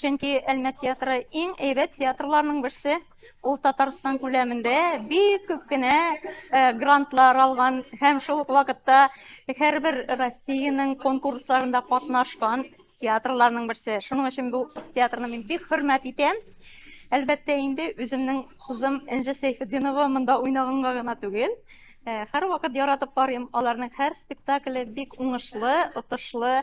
Чөнки Әлмә театры иң әйбәт театрларның берсе. Ул Татарстан күләмендә бик күп кенә э, грантлар алган һәм шул ук вакытта һәрбер Россиянең конкурсларында катнашкан театрларның берсе. Шуның өчен бу театрны мин бик хөрмәт итәм. Әлбәттә инде үземнең кызым Энҗе Сәйфетдинова монда уйнаганга гына түгел, Һәр вакыт яратып карыйм. Аларның һәр спектакле бик уңышлы, отышлы,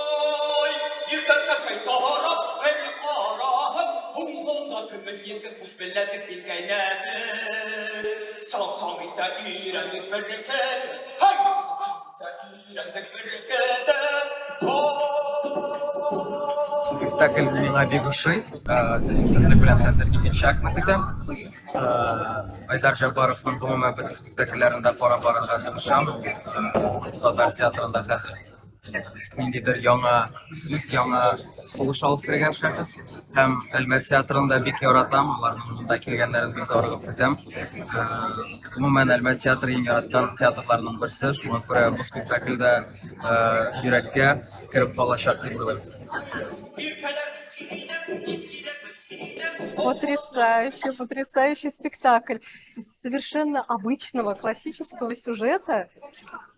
Спектакль миңа бик ошый. Төзим сезне белән хәзер икенче чакны көтәм. Айдар Жабаровның гомумән бөтен спектакльләрендә карап барырга тырышам. Татар театрында хәзер ниндидер яңа сүз яңа сулыш алып кергән шәхес һәм әлмәт театрын да бик яратам аларның монда килгәннәрен бик зарыгып көтәм э, гомумән әлмәт театры иң яраткан театрларның берсе шуңа күрә бу спектакль дә э, йөрәккә кереп калачак дип уйлыйм Потрясающий, потрясающий спектакль. Из совершенно обычного классического сюжета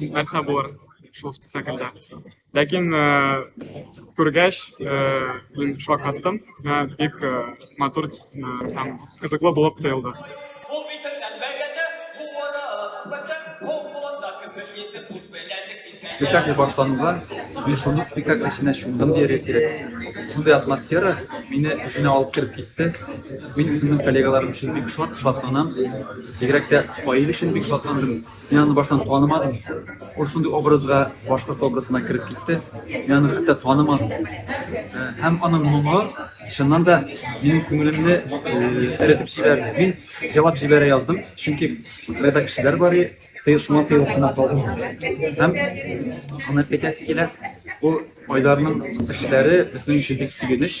нәрсә булыр шул спектакльдә ләкин күргәч мин шок аттым бик матур һәм кызыклы булып тоелды спектакль башлануга мин шундук спектакль эченә чумдым дияргә кирәк шундый атмосфера мине үзенә алып кереп китте мин үземнең коллегаларым өчен бик шат шатланам бигрәк тә фаил өчен бик шатландым Мин аны баштан танымадым. Ул шундый образга, башкорт образына кереп китте. Мин аны хәтта танымадым. Э, һәм аның моңы, чыннан да, минем күңелемне эретеп җибәрде. Мин елап җибәрә яздым, чөнки кырда кешеләр бар, ты шуңа тыйылып кына калдым. Һәм аны әйтәсе килә, ул Айдарның эшләре безнең өчен бик сөенеч,